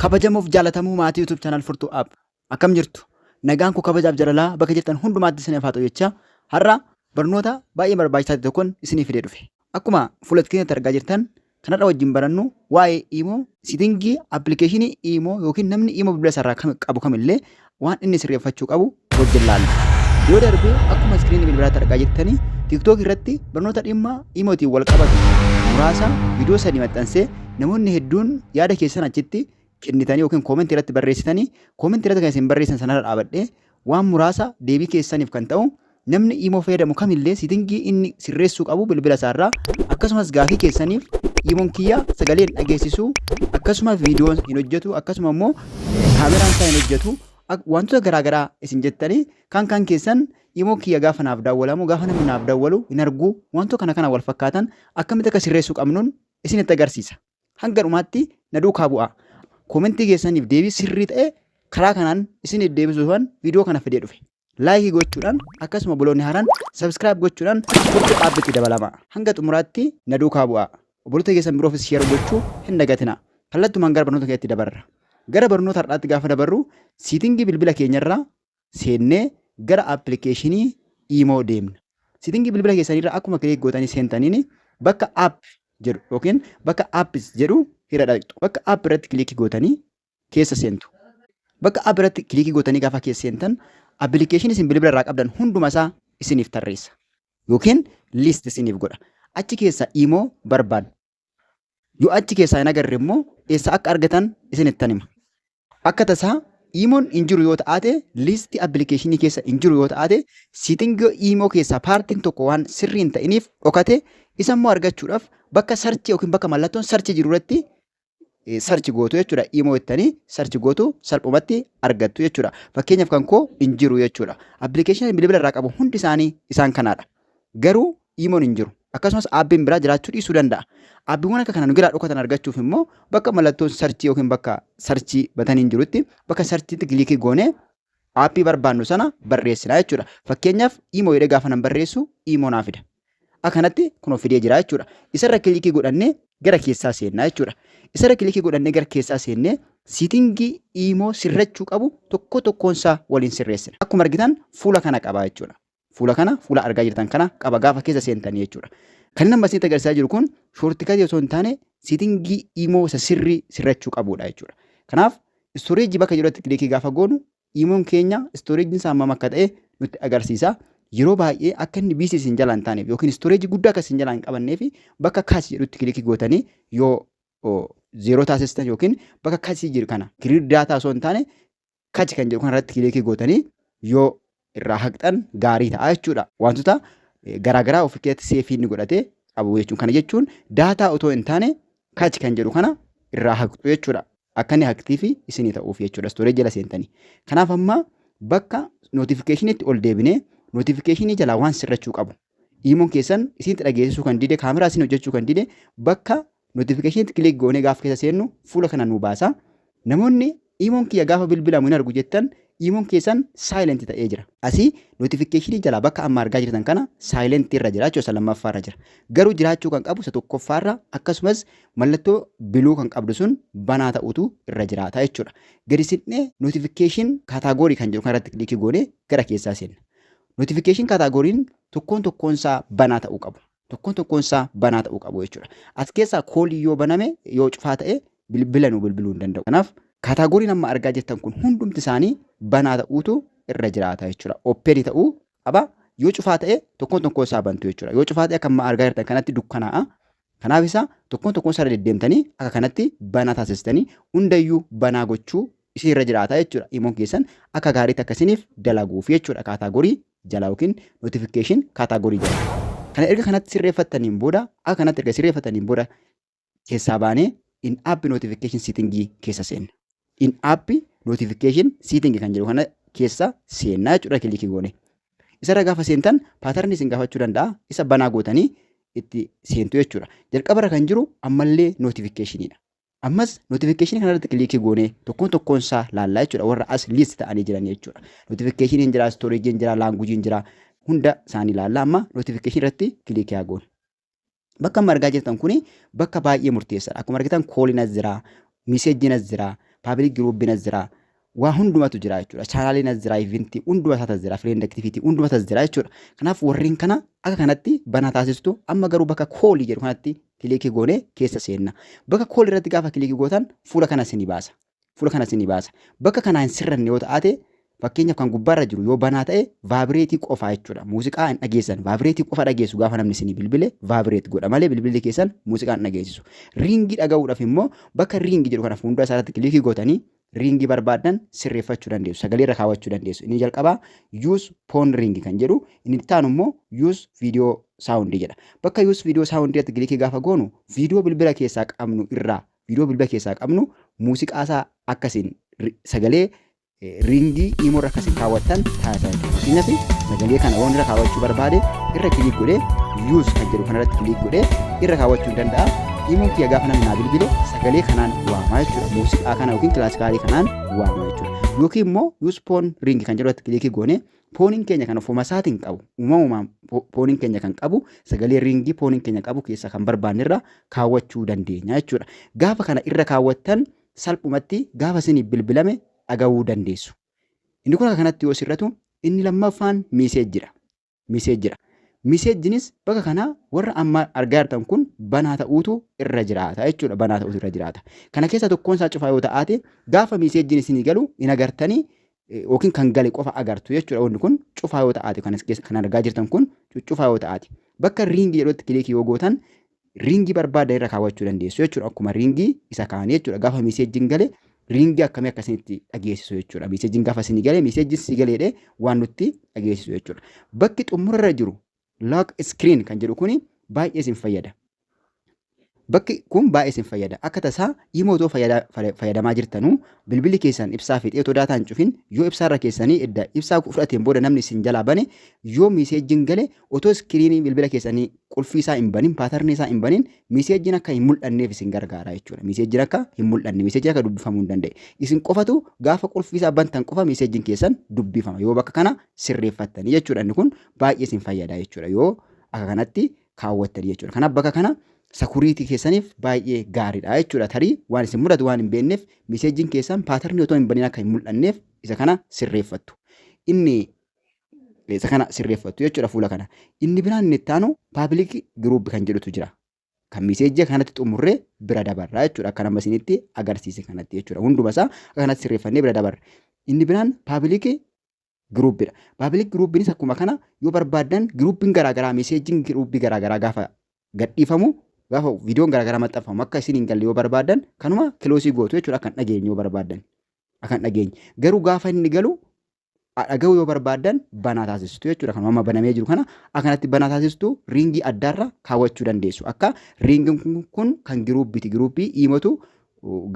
Kabajamuuf jaalatamuu maatii YouTube channel Furtuu App akkam jirtu? Nagaan koo kabajaaf jalalaa bakka jirtan hundumaatti isiniif haa ta'u jechaa har'a barnoota baay'ee barbaachisaa ta'e tokkon isiniif fidee dhufe. Akkuma fuula screen irratti argaa jirtan kan har'a wajjin barannu waa'ee iimoo sitingii appilikeeshinii iimoo yookiin namni iimoo bilbila isaarraa kam- qabu kamillee waan inni sirreeffachuu qabu wajjin laalla. Yoo darbe akkuma iskiriinii bilbilaatti argaa jirtanii TikTok irratti barnoota dhimma imootiin wal qabatu muraasa viidiyoo sadii maxxansee namoonni hedduun yaada keessan achitti kennitanii yookiin koomentii irratti barreessitanii koomentii irratti kan isin barreessan sanarra dhaabadhee waan muraasa deebii keessaniif kan ta'u Namni Imo fayyadamu kamillee sitingii inni sirreessuu qabu bilbila isaarraa akkasumas gaafii keessaniif Imon kiyya sagalee hin dhageessisu akkasuma viidiyoon hin hojjetu akkasuma immoo kaameraan isaa hin hojjetu ak- wantoota garaagaraa isin jettanii kan kan keessan Imo kiyya gaafa naaf daawwalamu gaafa namni naaf daawwalu hin argu wantoota kana kana wal fakkaatan akkamitti akka sirreessuu qabnuun isinitti agarsiisa. Hanga dhumaatti na duukaa bu'aa. Koomentii keessaniif deebii sirrii ta'e karaa kanaan isin deebisuufan viidiyoo kana fidee dhufe. Laayikii gochuudhaan akkasuma obboloonni haaraan sabiskiraayib gochuudhaan gocha dhaabbitti dabalama. Hanga xumuraatti na duukaa bu'aa. Obboloota keessan biroofis sheer gochuu hin dagatina. Kallattumaan gara barnoota keenyatti dabarra. Gara barnoota har'aatti gaafa dabarru siitingii bilbila keenyarraa seennee gara appilikeeshinii iimoo deemna. Sitingii bilbila keessaniirra akkuma kiliik gootanii seentaniin bakka app jedhu yookiin bakka apps jedhu irra dhaqxu. Bakka app irratti kiliikii gootanii keessa seentu. Bakka app irratti kiliikii gootanii gaafa keessa seentan appilikeeshinii isin bilbila irraa qabdan hunduma isaa isiniif tarreessa. Yookiin list isiniif godha. Achi keessaa iimoo barbaaddu. Yoo achi keessaa hin agarre immoo eessa akka argatan isinittan hima. Akka tasaa iimoon hin jiru yoo ta'aate liistii appilikeeshinii keessa hin jiru yoo ta'aate siitingii iimoo keessaa paartiin tokko waan sirrii hin ta'iniif dhokate isa immoo argachuudhaaf bakka sarchi yookiin bakka mallattoon sarchi jiru irratti sarchi gootu jechuudha. Iimoo ittanii sarchi gootu salphumatti argattu jechuudha. Fakkeenyaaf kan koo hin jiru jechuudha. Appilikeeshinii bilbila irraa qabu hundi isaanii isaan kanaadha. Garuu iimoon hin jiru. Akkasumas aappiin biraa jiraachuu dhiisuu danda'a. Aappiiwwan akka kana nu jalaa dhokatan argachuuf immoo bakka mallattoon sarchii yookiin bakka sarchii bataniin jirutti bakka sarchiitti kiliikii goonee aappii barbaannu sana barreessina jechuudha. Fakkeenyaaf iimoo jedhee gaafa nan barreessu iimoo naa fida. Akkanatti kunoo fidee jira jechuudha. Isarra kiliikii godhannee gara keessaa seennaa jechuudha. Isarra kiliikii godhannee gara keessaa seennee siitingii iimoo sirrachuu qabu tokko tokkoon isaa waliin sirreessina. Akkuma argitan fuula kana qaba jechuudha. Fuula kana fuula argaa jirtan kana qaba gaafa keessa seentan jechuudha. Kan inni amma isinitti agarsiisaa jiru kun shoortikatii osoo hin taane siitingii imoo isa sirrii sirrachuu qabudha jechuudha. Kanaaf istooreejii bakka jirutti kilikii gaafa goonu imoon keenya istooreejiin isaa hammam akka ta'e nutti agarsiisa. Yeroo baay'ee akka inni biisii isin jalaa hin taaneef yookiin istooreejii guddaa akka isin jalaa hin qabannee fi bakka kaasii jedhutti kilikii gootanii yoo zeeroo taasistan yookiin bakka kaasii jiru kana kiriir daataa osoo hin taane kachi kan jedhu kanarratti kilikii gootanii yoo irraa haqxan gaarii ta'a jechuudha. Wantoota garaagaraa of keessatti seefii inni godhate qabu jechuun kana jechuun daataa otoo hin taane kachi kan jedhu kana irraa haqxu jechuudha. Akka inni haqtii fi isinii ta'uuf jechuudha istooree jala seentanii. Kanaaf amma bakka nootifikeeshiniitti ol deebinee nootifikeeshinii jalaa waan sirrachuu qabu. Iimoon keessan isinitti dhageessisuu kan dide kaameraa isin hojjechuu kan dide bakka Notification click goonee gaafa keessa seennu fuula kana nu baasa. Namoonni iimoon kiyya gaafa bilbilamu hin argu jettan iimoon keessan silent ta'ee jira. Asii notification jalaa bakka amma argaa jirtan kana silent irra jira jechuudha isa lammaffaa irra jira. Garuu jiraachuu kan qabu isa tokkoffaa irra akkasumas mallattoo biluu kan qabdu sun banaa ta'utu irra jiraata jechuudha. Gadi siqnee notification category kan jedhu kanarratti click goonee gara keessaa seenna. Notification category'n tokkoon tokkoon isaa banaa ta'uu qabu. Tokkoon tokkoon isaa banaa ta'uu qabu jechuudha. As keessaa kooliin yoo baname yoo cufaa ta'e bilbila nu bilbiluu hin danda'u. Kanaaf kaataagoriin amma argaa jirtan kun hundumti isaanii banaa ta'uutu irra jiraata jechuudha. Ooppeeni ta'uu qaba. Yoo cufaa ta'e tokkoon tokkoon isaa bantu jechuudha. Yoo cufaa ta'e akka amma argaa jirtan kanatti dukkanaa'a. Kanaaf isaa tokkoon tokkoon isaa deddeemtanii akka kanatti banaa taasistanii hundayyuu banaa gochuu isin irra jiraata jechuudha. Imoon keessan akka gaariitti akkasiniif dalaguuf jechuudha kaataagorii jala yookiin notification category jala. Kana erga kanatti sirreeffattaniin booda akka kanatti erga sirreeffattaniin booda keessaa baanee in app notification setting keessa seenna. In app notification setting kan jedhu kana keessa seenna jechuudha kilikii goone. Isarra gaafa seentan paatarni isin gaafachuu danda'a. Isa banaa gootanii itti seentu jechuudha. Jalqabarra kan jiru ammallee notificationidha. Ammas notification kana irratti kiliikii goonee tokkoon tokkoon isaa laallaa jechuudha warra as list ta'anii jiran jechuudha. Notification hin jira, storage hin jira, language hin jira hunda isaanii laallaa amma notification irratti kiliikii haa goonu. Bakka amma argaa jirtan kuni bakka baay'ee murteessaadha. Akkuma argitan kooliin as jira, miseejiin as jira, paabilik giruubiin as jira, waa hundumatu jira jechuudha. Chaanaaliin as jira, ivinti hunduma isaati as jira, fireend aktiviitii hunduma isaas jira jechuudha. Kanaaf warreen kana akka kanatti banaa taasistu amma garuu bakka koolii jedhu kanatti kiliikii goonee keessa seenna. Bakka koolii irratti gaafa kiliikii gootan fuula kana isinii baasa. Fuula kana isinii baasa. Bakka kanaa hin sirranne yoo ta'ate fakkeenyaaf kan gubbaarra jiru yoo banaa ta'e vaabireetii qofaa jechuudha. Muuziqaa hin dhageessan. Vaabireetii qofa dhageessu gaafa namni isinii bilbile vaabireet godha malee bilbilli keessan muuziqaa hin dhageessisu. Riingii dhaga'uudhaaf immoo bakka riingii jedhu kana fuuldura isaarratti kiliikii gootanii riingii barbaaddan sirreeffachuu dandeessu. Sagalee irra kaawwachuu dandeessu. Inni jalqabaa use phone ring kan jedhu inni itti aanu immoo use video sound jedha. Bakka use video sound irratti kilikii gaafa goonu viidiyoo bilbila keessaa qabnu irraa viidiyoo bilbila keessaa qabnu muuziqaa isaa akka isin ri- sagalee eh, riingii imoo irra akka isin kaawwattan taasisaa jechuudha. Fakkeenyaaf sagalee kana waan irra kaawwachuu barbaade irra kiliik godhee use kan jedhu kanarratti kiliik godhee irra kaawwachuu ni danda'a. Iimeelii kiyya gaafa namni naa bilbile sagalee kanaan waamaa jechuudha. Muuziqaa kana yookiin kilaasikaalii kanaan waamaa jechuudha. Yookiin immoo yuus poon riingi kan jedhu irratti kilikii goone pooniin keenya kan ofuma isaatiin qabu uumamumaan pooniin keenya kan qabu sagalee riingii pooniin keenya qabu keessa kan barbaanne irra kaawwachuu dandeenya jechuudha. Gaafa kana irra kaawwattan salphumatti gaafa isiniif bilbilame dhagahuu dandeessu. Inni kun akka kanatti yoo sirratu inni lammaffaan miiseejjidha. miseejjidha. Miseejjinis bakka kanaa warra amma argaa jirtan kun banaa ta'uutu irra jiraata jechuudha. Banaa ta'uutu irra jiraata. Kana keessaa tokkoon isaa cufaa yoo ta'aate gaafa miseejjiin isinii galu hin agartanii yookiin kan gale qofa agartu jechuudha. Wanni kun cufaa yoo ta'aate kan argaa jirtan kun cuccufaa yoo ta'aate bakka riingi jedhutti kiliikii yoo gootan riingii barbaadda irra kaawwachuu dandeessu jechuudha. Akkuma riingii isa kaanii jechuudha. Gaafa miseejjiin gale riingii akkamii akka isinitti dhageessisu jechuudha. Miseejjiin gaafa isinii gale miseejjiin si galeedhe waan nutti dhageessisu jechuudha. Bakki xumurarra jiru lock screen kan jedhu kuni baay'ee isin fayyada. Bakki kun baay'ee isin fayyada. Akka tasaa imoo otoo fayyada- fayya- fayyadamaa jirtanuu bilbilli keessan ibsaa fixee otoo daataa hin cufin yoo ibsaarra keessanii edda ibsaa fudhateen booda namni isin jalaa bane yoo miseejjiin gale otoo iskiriinii bilbila keessanii qulfii isaa hin banin paatarnii isaa hin banin miseejjiin akka hin mul'anneef isin gargaara jechuudha. Miseejjiin akka hin mul'anne miseejjiin akka dubbifamuu hin danda'e. Isin qofatu gaafa qulfii isaa bantan qofa miseejjiin keessan dubbifama yoo bakka kana sirreeffattanii jechuudha. Inni kun baay'ee isin fayyada jechuudha yoo akka kanatti kaawwattanii jechuudha. Kanaaf bakka kana sakuriitii keessaniif baay'ee gaariidha jechuudha. Tarii waan isin mudatu waan hin beekneef miseejjiin keessan paatarnii otoo hin banin akka hin mul'anneef isa kana sirreeffattu. Inni isa kana sirreeffattu jechuudha fuula kana. Inni biraan inni itti aanu paabilik giruup kan jedhutu jira. Kan miseejii kanatti xumurree bira dabarra jechuudha akka nama isinitti agarsiise kanatti jechuudha. Hunduma isaa kanatti sirreeffannee bira dabarra. Inni biraan paabilik giruupidha. Paabilik giruupinis akkuma kana yoo barbaaddan giruupiin garaagaraa miseejiin giruupii garaagaraa gaafa gadhiifamu gaafa viidiyoon garaagaraa maxxanfamu akka isin hin galle yoo barbaaddan kanuma kiloosii gootu jechuudha akka hin dhageenye yoo barbaaddan. Akka hin dhageenye. Garuu gaafa inni galu dhaga'uu yoo barbaaddan banaa taasistu jechuudha. Kan amma banamee jiru kana akkanatti banaa taasistu riingii addaarra kaawwachuu dandeessu. Akka riingiin kun, kun kan giruuppiiti. Giruuppii iimatu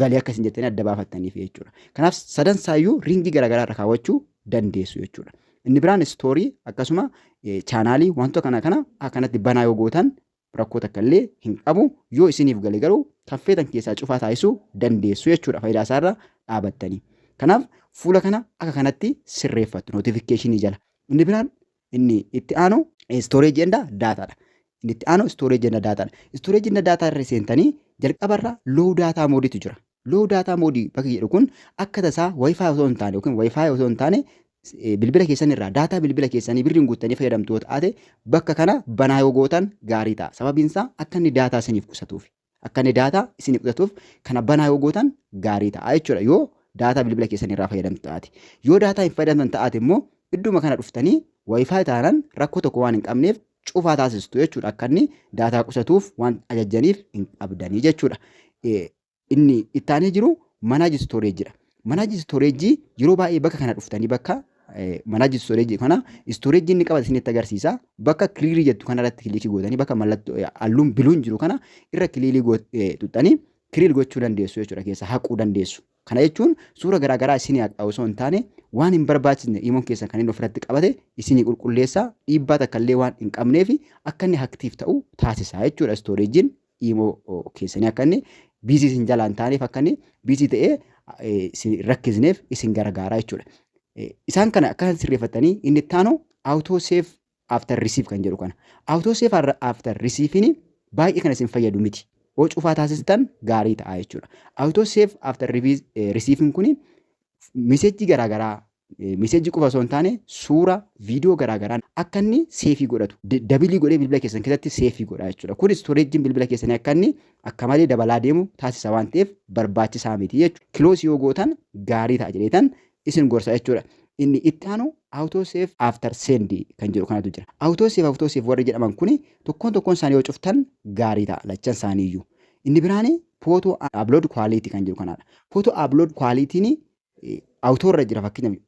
galii akka isin jettanii adda baafattaniif jechuudha. Kanaaf sadan saayyuu riingii garaagaraa irra kaawwachuu dandeessu jechuudha. Inni biraan istoorii akkasuma chaanaalii wantoota kana kana akkanatti banaa yoo gootan rakkoo takka illee hin qabu yoo isiniif gale garuu kan feetan keessaa cufaa taasisuu dandeessu jechuudha faayidaa isaa irra dhaabattanii. Kanaaf fuula kana akka kanatti sirreeffattu notifikkeeshinii jala. Inni biraan inni itti aanu storage and data dha. Inni itti aanu storage and data dha. Storage and data irra seentanii jalqabarra low data mode tu jira. Low data mode bakki jedhu kun akka tasaa wifi osoo hin taane yookiin wifi osoo hin taane eh, bilbila keessan irraa daataa bilbila keessanii birriin guuttanii fayyadamtu yoo taate bakka kana banaa yoo gootan gaarii ta'a. Sababiin isaa akka inni daataa isiniif qusatuuf akka inni daataa isiniif qusatuuf kana banaa yoo gootan gaarii ta'a jechuudha yoo daataa bilbila keessan irraa fayyadamtu taate. Yoo daataa hin fayyadamtan taate immoo idduma kana dhuftanii wifi taanan rakkoo tokko waan hin qabneef cufaa taasistu jechuudha akka inni daataa qusatuuf waan ajajjaniif hin qabdanii jechuudha. Eh, Inni ittaanee jiru manage storage dha. Manage storage yeroo baay'ee bakka kana dhuftanii bakka manage storage kana storage inni qabate isinitti agarsiisa. Bakka kiliirii jettu kana irratti kiliikii gootanii bakka mallattoo halluun biluun jiru kana irra kiliilii tuxxanii kiliil gochuu dandeessu jechuudha keessa haquu dandeessu. Kana jechuun suura garaagaraa isinii haqaa osoo hin taane waan hin barbaachisne imoon keessan kan inni ofirratti qabate isinii qulqulleessaa dhiibbaa takka illee waan hin qabneef akka inni haktiif ta'u taasisa jechuudha istooreejiin imo keessanii akka inni biizii isin jalaa hin taaneef akka inni biizii ta'ee eh, isin hin rakkisneef isin gargaaraa jechuudha. Eh, Isaan kana akka sirreeffattanii inni itti aanu auto save after receive kan jedhu kana. Auto save arra- after receive'ni baay'ee kan isin fayyadu miti. Yoo cufaa taasistan gaarii ta'a jechuudha. Auto save after revi- eh, receive'n kuni misejii garaa garaa misejii qofa osoo hin taane suura viidiyoo garaa garaan akka inni seefii godhatu dabilii godhee bilbila keessan keessatti seefii godha jechuudha. Kun istoreejiin bilbila keessanii akka inni akka malee dabalaa deemu taasisa waan ta'eef barbaachisaa miti jechuudha. Kiloosii yoo gootan gaarii ta'a jedheetan isin gorsa jechuudha. Inni itti aanu auto save after send kan jedhu kanatu jira. Auto save auto save warri jedhaman kun tokkoon tokkoon isaanii yoo cuftan gaarii ta'a lachan isaanii iyyuu. Inni biraan photo upload quality kan jiru kanaadha. Photo upload quality ni auto irra jira fakkeenyaaf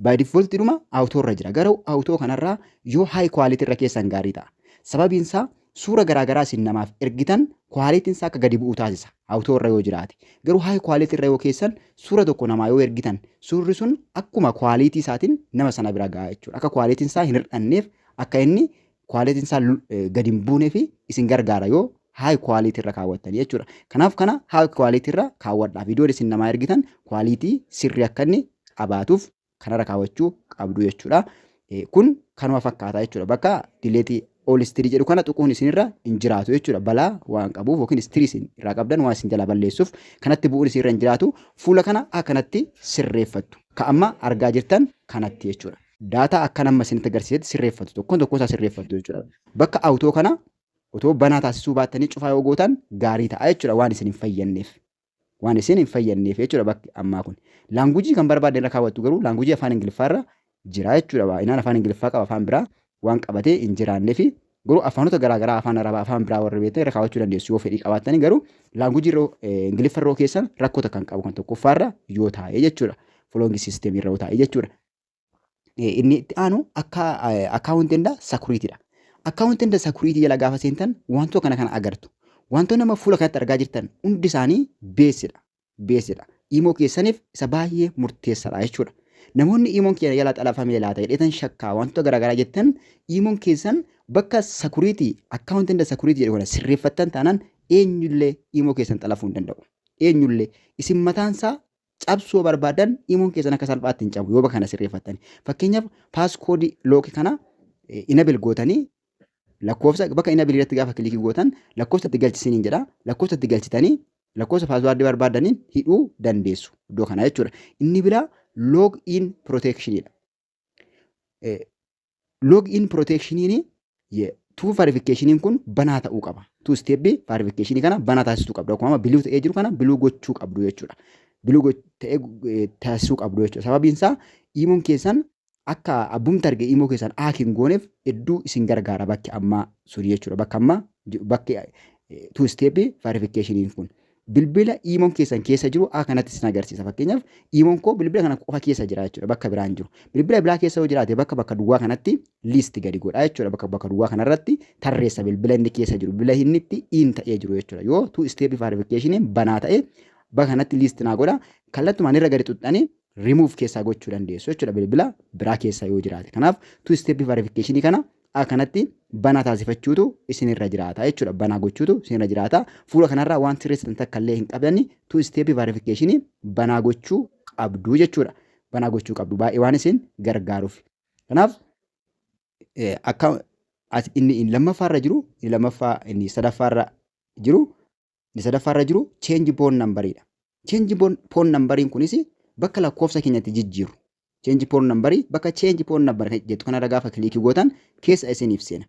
by default dhuma auto irra jira garuu auto kanarraa yoo high quality irra keessan gaarii ta'a. Sababiin isaa suura garaagaraa isin namaaf ergitan quality isaa akka gadi bu'u taasisa auto irra yoo jiraate. Garuu high quality irra yoo keessan suura tokko namaa yoo ergitan suurri sun akkuma quality isaatiin nama sana bira ga'a jechuudha. Akka quality isaa hin hir'anneef akka inni quality isaa gadi hin buunee fi isin gargaara yoo high quality irra kaawwattanii jechuudha. Kanaaf kana high quality irra kaawwadhaa. Viidiyoon isin namaa ergitan quality sirrii akka inni qabaatuuf kanarra kaawwachuu qabdu jechuudha. Kun kanuma fakkaata jechuudha. Bakka dileetii all history jedhu kana tuquun isinirra hin jiraatu jechuudha. Balaa waan qabuuf yookiin history isin irraa qabdan waan isin jalaa balleessuuf kanatti bu'uun isinirra hin jiraatu. Fuula kana akkanatti sirreeffattu. Ka amma argaa jirtan kanatti jechuudha. daataa akkan amma isinitti agarsiisetti sirreeffatu tokkoon tokkoo isaa sirreeffattu jechuudha. Bakka awutoo kana otoo banaa taasisuu baattanii cufaa yoo gootan gaarii ta'a jechuudha waan isin hin fayyadneef. Waan isin hin fayyadneef jechuudha bakki ammaa kun. Laangujii kan barbaadne irra kaawwattu garuu laangujii afaan Ingiliffaa irra jira jechuudha. Baay'inaan afaan Ingiliffaa qaba afaan biraa waan qabatee hin jiraannee fi garuu afaanota garaagaraa afaan Arabaa afaan biraa warri beektan irra kaawwachuu dandeessu yoo fedhii qabaattanii garuu laangujii irra Ingiliffa irra keessan rakkoo takka hin qabu kan tokkoffaa irra yoo taa'e jechuudha. Fuloongi siisteemii irra yoo taa'e jechuudha. inni itti aanu akka akkaawunti inda sakuriitiidha. Akkaawunti inda sakuriitii jala gaafa seentan wantoota kana kana agartu. Wantoonni amma fuula kanatti argaa jirtan hundi isaanii beesidha. Beesidha. Imoo keessaniif isa baay'ee murteessaadha jechuudha. Namoonni imoon keenya jala xalafamee laata jedheetan shakkaa wantoota garaagaraa jettan imoon keessan bakka sakuriitii akkaawunti inda sakuriitii jedhu kana sirreeffattan taanaan eenyullee imoo keessan xalafuu hin danda'u. Eenyullee isin mataansaa cabsuu barbaadan imuun keessan akka salphaatti hin cabu yoo bakka kana sirreeffattani. Fakkeenyaaf paaskoodii lookii kana inabil gootanii lakkoofsa bakka inabil irratti gaafa kilikii gootan lakkoofsa itti galchisiniin jedha. Lakkoofsa itti galchitanii lakkoofsa paaswaardii barbaadaniin hidhuu dandeessu iddoo kana jechuudha. Inni biraa loog in proteekshinidha. log in protectioniin tuu faarifikkeeshiniin kun banaa ta'uu qaba. Tuu isteeppi faarifikkeeshinii kana banaa taasisuu qabdu. Akkuma amma biluu ta'ee jiru kana biluu gochuu qabdu jechuudha. Biluu ta'ee taasisuu qabdu jechuudha. Sababiin isaa iimoon keessan akka abbumti arge iimoo keessan haak hin gooneef hedduu isin gargaara bakki ammaa suni jechuudha. Bakka ammaa bakki tuu isteeppi faarifikkeeshiniin kun. bilbila iimoon keessan keessa jiru a kanatti isin agarsiisa fakkeenyaaf iimoon koo bilbila kana qofa keessa jira jechuudha bakka biraan jiru bilbila biraa keessa yoo jiraate bakka bakka duwwaa kanatti liisti gadi godhaa jechuudha bakka bakka duwwaa kanarratti tarreessa bilbila inni keessa jiru bilbila inni itti iin ta'ee jiru jechuudha yoo tuu isteepi faarifikeeshiniin banaa ta'e bakka kanatti liisti naa godha kallattumaan irra gadi xuxxanii rimuuf keessaa gochuu dandeessu jechuudha bilbila biraa keessa yoo jiraate kanaaf tuu isteepi faarifikeeshinii kana a kanatti banaa taasifachuutu isinirra jiraata jechuudha. Banaa gochuutu isinirra jiraata. Fuula kanarraa waan sirreessitan takka illee hin qabdanni tu isteepii vaarifikeeshinii banaa gochuu qabdu jechuudha. Banaa gochuu qabdu baay'ee waan isin gargaaruuf. Kanaaf akka inni lammaffaarra jiru inni lammaffaa inni sadaffaarra jiru Inni sadaffaa irra jiru change pawn number dha. Change pawn number kunis bakka lakkoofsa keenya itti jijjiirru. Change pawn number bakka change pawn number jettu kanarra gaafa kiliikii gootan keessa isiniif seena.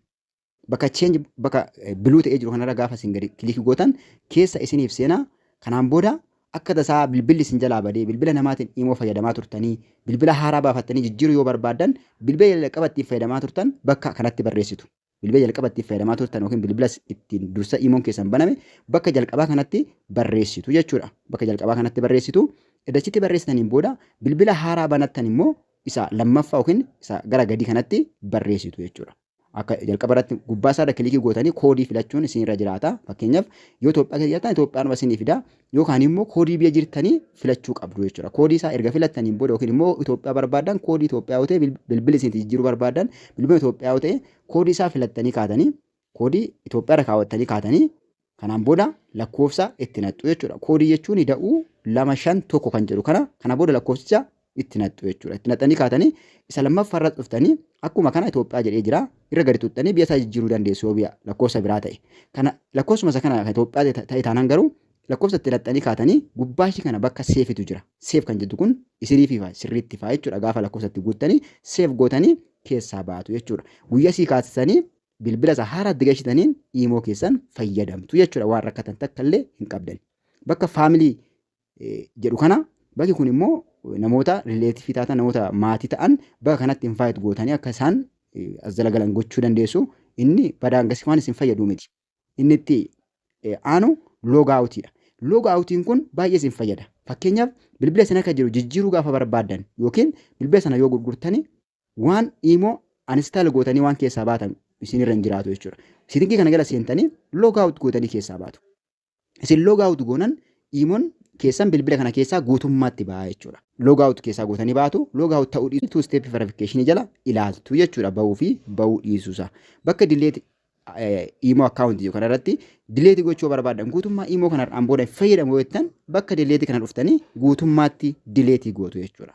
Bakka change bakka biluu ta'ee jiru kanarra gaafa isin gadi kiliikii gootan keessa isiniif seena. Kanaan booda akka tasaa bilbilli isin jalaa badee bilbila namaatiin imoo fayyadamaa turtanii bilbila haaraa baafattanii jijjiiruu yoo barbaaddan bilbila jalqaba ittiin fayyadamaa turtan bakka kanatti barreessitu. bilbila jalqaba ittiin fayyadamaa turtan yookiin bilbila ittiin dursa iimoon keessan baname bakka jalqabaa kanatti barreessitu jechuudha. Bakka jalqabaa kanatti barreessitu eddachitti barreessitaniin booda bilbila haaraa banattan immoo isa lammaffaa yookiin isa gara gadii kanatti barreessitu jechuudha. Akka jalqaba irratti gubbaa isaarra kilikii gootanii koodii filachuun isinirra jiraata. Fakkeenyaaf yoo Itoophiyaa keessa jirtan Itoophiyaan isinii fida. yookaan immoo koodii biyya jirtanii filachuu qabdu jechuudha. Koodii isaa erga filattaniin booda yookiin immoo Itoophiyaa barbaadan koodii Itoophiyaa yoo ta'e bilbila isin jijjiiruu barbaadan bilbila Itoophiyaa yoo ta'e koodii isaa filattanii kaatanii koodii Itoophiyaa irra kaawwattanii kaatanii kanaan booda lakkoofsa itti naqxu jechuudha. Koodii jechuun da'uu lama shan tokko kan jedhu kana kana booda lakkoofsicha itti naqxu jechuudha. Itti naqxanii kaatanii isa lammaffaa irratti dhuftanii akkuma kana Itoophiyaa jedhee jira irra gadi tuttanii biyya isaa jijjiiruu dandeessu yoo biyya lakkoofsa biraa ta'e. Kana lakkoofsuma isa kana kan Itoophiyaa ta'e taanaan garuu lakkoofsa itti naqxanii kaatanii gubbaa ishii kana bakka seefitu jira. Seef kan jettu kun isinii fi sirriitti faa jechuudha gaafa lakkoofsa itti guuttanii seef gootanii keessaa baatu jechuudha. Guyyaa sii kaasisanii bilbila isaa haaraatti gashitaniin iimoo keessan fayyadamtu jechuudha waan rakkatan takka illee hin qabdan. Bakka faamilii jedhu kana bakki kun immoo namoota rileetifii taatan namoota maatii ta'an bakka kanatti invaayit gootanii akka isaan as jala galan gochuu dandeessu inni badaan gasii waan isin fayyadu miti inni itti aanu loogaawutiidha loogaawutiin kun baay'ee isin fayyada fakkeenyaaf bilbila isin akka jiru jijjiiruu gaafa barbaaddan yookiin bilbila sana yoo gurgurtanii waan iimoo anistaal gootanii waan keessaa baatan isinirra hin jiraatu jechuudha. Sitingii kana jala seentanii loogaawut gootanii keessaa baatu. Isin log out goonan iimon keessan bilbila kana keessaa guutummaatti ba'aa jechuudha. Log out keessaa gootanii baatu, log out ta'uu dhiisu two step verification jala ilaaltu jechuudha ba'uu fi ba'uu dhiisuusa. Bakka delete iimoo account jiru kanarratti delete gochuu barbaadan guutummaa iimoo kanarraan booda fayyadamu jettan bakka delete kana dhuftanii guutummaatti delete gootu jechuudha.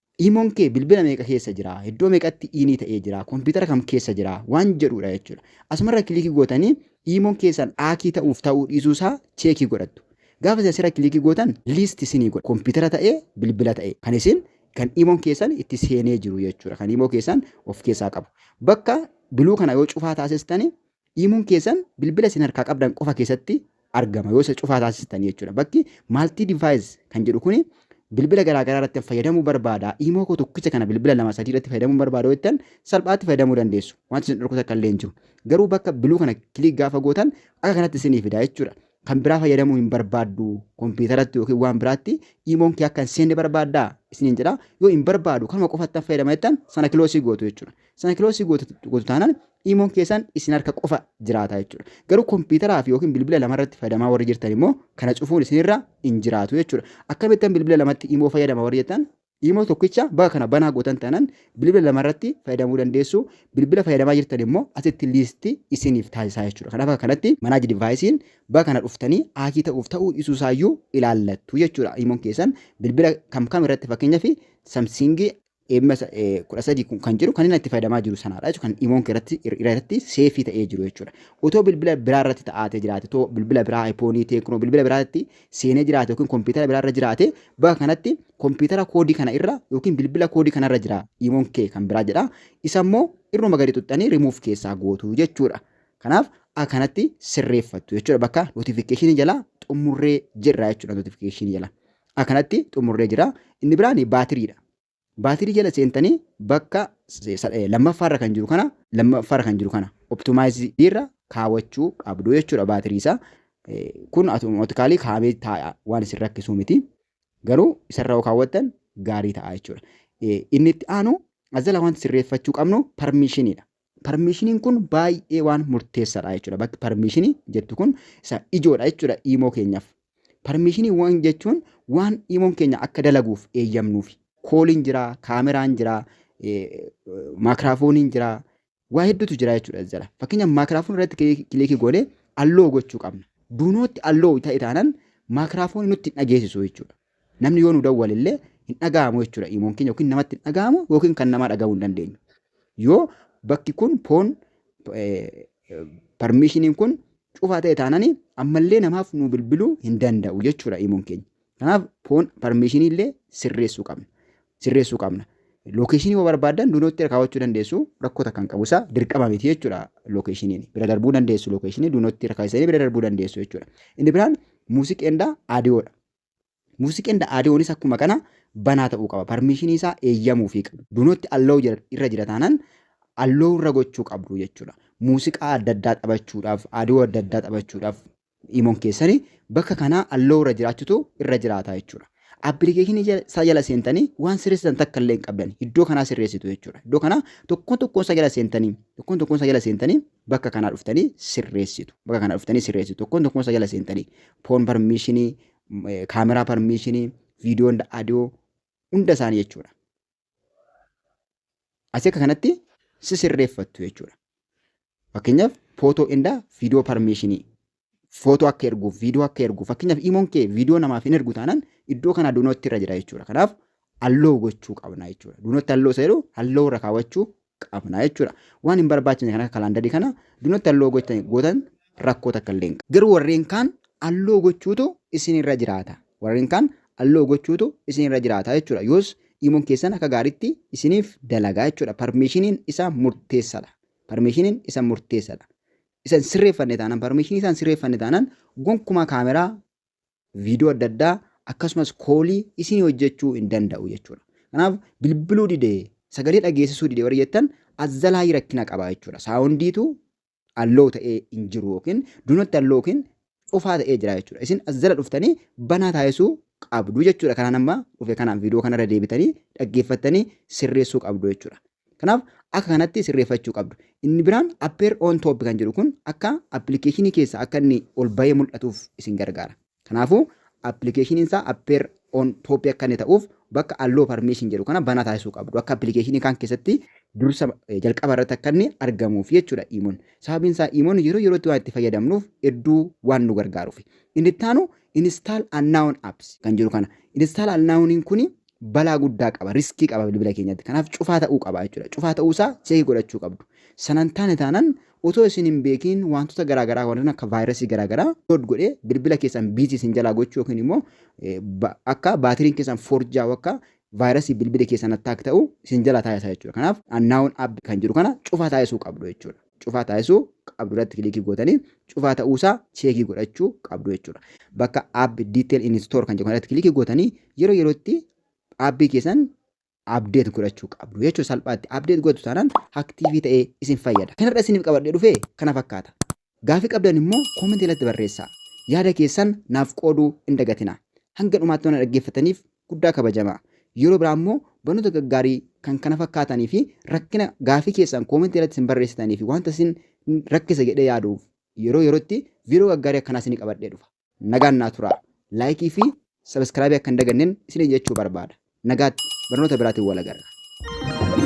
Iimon kee bilbila meeqa keessa jira? Iddoo meeqatti iinii ta'ee jira? Kompiitara kam keessa jira? Waan jedhuudha jechuudha. Asumarra kilikii gootanii iimon keessan aakii ta'uuf ta'uu dhiisuu isaa cheekii godhattu. Gaafa isin asirra kilikii gootan liisti isinii godha. Kompiitara ta'ee bilbila ta'ee kan isin kan iimon keessan itti seenee jiru jechuudha. Kan iimoo keessan of keessaa qabu. Bakka biluu kana yoo cufaa taasistani Iimuun keessan bilbila isin harkaa qabdan qofa keessatti argama yoo isa cufaa taasistan jechuudha. Bakki maaltii divaayis kan jedhu kuni bilbila garaagaraa irratti fayyadamuu barbaada. Iimoo koo tokkicha kana bilbila lama sadii irratti fayyadamuu barbaada jettan salphaatti fayyadamuu dandeessu. Wanti isin dhorku takka illee hin jiru. Garuu bakka biluu kana kiliik gaafa gootan akka kanatti isinii fida jechuudha. Kan biraa fayyadamuu hin barbaaddu kompiitaratti yookiin waan biraatti iimoon kee akka hin seenne barbaaddaa isiniin jedha. Yoo hin barbaadu kanuma qofattan fayyadama jettan sana kiloosii gootu jechuudha. Sana kiloosii gootu taanaan imoon keessan isin harka qofa jiraata jechuudha. Garuu kompiitaraa fi yookiin bilbila lama irratti fayyadamaa warri jirtan immoo kana cufuun isinirra hin jiraatu jechuudha. Akkamittan bilbila lamatti imoo fayyadama warri jettan imoo tokkicha baga kana banaa gootan taanaan bilbila lama irratti fayyadamuu dandeessu. Bilbila fayyadamaa jirtan immoo asitti liistii isiniif taasisaa jechuudha. Kanaaf akka kanatti manaaji divaayisiin baga kana dhuftanii haakii ta'uuf ta'uu dhiisuu isaayyuu ilaallattu jechuudha. Imoon keessan bilbila kam kam irratti fakkeenyaaf samsiingii Eemma 13 kun kan jiru kan inni itti fayyadamaa jiru sanaadha jechuudha. Kan imoon irratti irratti seefii ta'ee jiru jechuudha. Otoo bilbila biraa irratti ta'aatee jiraate, otoo bilbila biraa iPhone, Tecno, bilbila biraa irratti seenee jiraate yookiin kompiitara biraa irra jiraate bakka kanatti kompiitara koodii kana irra yookiin bilbila koodii kana irra jira imoon kee kan biraa jedha. Isa immoo irruma gadi xuxxanii remove keessaa gootu jechuudha. Kanaaf akkanatti sirreeffattu jechuudha bakka notification jalaa xumurree jirra jechuudha notification jalaa. Akkanatti xumurree jira. Inni biraan baatiriidha. Baatirii jala seentanii bakka lammaffaarra kan jiru kana lammaffaarra kan jiru kana optimaayiziirra kaawachuu qabdu jechuudha baatirii isaa. Kun otomatikaalii kaa'amee taa'a waan isin rakkisuu miti. Garuu isarra yoo kaawwattan gaarii ta'a jechuudha. Inni itti aanu as jala wanti sirreeffachuu qabnu parmiishiniidha. Parmiishiniin kun baay'ee waan murteessaadha jechuudha. Bakki parmiishinii jettu kun isa ijoodha jechuudha iimoo keenyaaf. Parmiishiniiwwan jechuun waan iimoon keenya akka dalaguuf eeyyamnuufi. Kooliin jira, kaameraan jira, maakiraafooniin jira, waa hedduutu jira jechuudha as jala. Fakkeenyaaf maakiraafoon irratti kilikii goonee alloo gochuu qabna. Duunootti alloo ta'e taanaan maakiraafoonii nutti hin dhageessisu jechuudha. Namni yoo nu dawwale illee hin dhaga'amu jechuudha. Imoon keenya yookiin namatti hin dhaga'amu yookiin kan namaa dhaga'uu hin dandeenyu. Yoo bakki kun poon parmiishiniin kun cufaa ta'e taanani ammallee namaaf nu bilbiluu hin danda'u jechuudha imoon keenya. Kanaaf poon parmiishinii illee sirreessuu qabna. Sirreessuu qabna. Lookeeshinii yoo barbaaddan duunootti irra kaawwachuu dandeessu rakkoo takka hin qabu isaa dirqama miti jechuudha lookeeshiniin. Bira darbuu dandeessu lookeeshinii duunootti irra kaawwatanii bira darbuu dandeessu jechuudha. Inni biraan muuziqeendaa aadiyoodha. Music and audionis akkuma kana banaa ta'uu qaba. Permission isaa eeyyamuufii qabu. Do not allow jira- irra jira taanaan allow irra gochuu qabdu jechuudha. Muuziqaa adda addaa taphachuudhaaf, audio adda addaa taphachuudhaaf imoon keessani bakka kanaa allow irra jiraachutu irra jiraata jechuudha. Appilikeeshinii jala- isaa jala seentanii waan sirreessitan takka illee hin qabdan. Iddoo kanaa sirreessitu jechuudha. Iddoo kanaa tokkoon tokkoon isaa jala seentanii tokkoon tokkoon isaa jala seentanii bakka kanaa dhuftanii sirreessitu. Bakka kanaa dhuftanii sirreessitu. Tokkoon tokkoon isaa jala seentanii foon parmiishinii, kaameraa parmiishinii, viidiyoo hunda adiyoo hunda isaanii jechuudha. Asii akka kanatti si sirreeffattu jechuudha. Fakkeenyaaf footoo inda viidiyoo parmiishinii footoo akka erguuf, viidiyoo akka erguuf, fakkeenyaaf imoon kee viidiyoo namaaf hin ergu taanaan iddoo kanaa duunootti irra jira jechuudha. Kanaaf halloo gochuu qabna jechuudha. Duunootti halloo isa jedhu halloo irra kaawwachuu qabna jechuudha. Waan hin barbaachifne kan akka kalaandarii kana duunootti halloo gootan rakkoo takka illee hin qabu. Garuu warreen kaan halloo gochuutu isin irra jiraata. Warreen kaan halloo gochuutu isin irra jiraata jechuudha. Yoos imoon keessan akka gaariitti isiniif dalagaa jechuudha. Parmiishiniin isa murteessadha. Parmiishiniin isa murteessadha. isa hin sirreeffanne taanaan parmeeshinii isaa hin sirreeffanne taanaan gonkumaa kaameraa viidiyoo adda addaa akkasumas koolii isin hojjechuu hin danda'u jechuudha. Kanaaf bilbiluu didee sagalee dhageessisuu didee warri jettan azzalaayii rakkina qabaa jechuudha. Saawundiitu alloo ta'ee hin jiru yookiin dunatti alloo yookiin cufaa ta'ee jira jechuudha. Isin as jala dhuftanii banaa taasisuu qabdu jechuudha. Kanaan amma dhufe kanaan viidiyoo kanarra deebitanii dhaggeeffattanii sirreessuu qabdu jechuudha. Kanaaf akka kanatti sirreeffachuu qabdu. Inni biraan appeer on top kan jedhu kun akka appilikeeshinii keessa akka inni ol bahee mul'atuuf isin gargaara. Kanaafuu appilikeeshiniin isaa appeer on top akka inni ta'uuf bakka allow permission jedhu kana banaa taasisuu qabdu akka appilikeeshinii kaan keessatti dursa jalqaba irratti akka inni argamuuf jechuudha iimoon sababiin isaa iimoon yeroo yerootti waan itti fayyadamnuuf hedduu waan nu gargaaruuf inni itti aanu install unknown apps kan jiru kana install unknown kuni balaa guddaa qaba riskii qaba bilbila keenyatti kanaaf cufaa ta'uu qaba jechuudha cufaa ta'uu isaa cheekii godhachuu qabdu sanan taane taanan Otoo isin hin beekiin waantota garaa garaa warreen akka vaayirasii garaa garaa load godhee bilbila keessan biizii isin jalaa gochuu yookiin immoo akka baatiriin keessan forjaa'u akka vaayirasii bilbila keessan attack ta'u isin jalaa taasisa jechuudha. Kanaaf annaawun app kan jiru kana cufaa taasisuu qabdu jechuudha. Cufaa taasisuu qabdu irratti kilikii gootanii cufaa ta'uusaa cheekii godhachuu qabdu jechuudha. Bakka app detail in store kan jedhu irratti kilikii gootanii yeroo yerootti aappii keessan update godhachuu qabdu jechuudha salphaatti update godhatu taanaan active ta'ee isin fayyada kanarra isiniif qabadhee dhufe kana fakkaata gaafii qabdan immoo comment irratti barreessaa yaada keessan naaf qooduu hin dagatina hanga dhumaatti waan dhaggeeffataniif guddaa kabajamaa yeroo biraa immoo barnoota gaggaarii kan kana fakkaatanii fi rakkina gaafii keessan comment irratti isin barreessitanii fi wanta isin rakkisa jedhee yaaduuf yeroo yerootti viidiyoo gaggaarii akkanaa isinii qabadhee dhufa. Nagaan naa turaa. Laayikii fi sabiskiraabii akka hin dagannen isiniin jechuu barbaada. Nagaatti barnoota biraatiin wal agarra.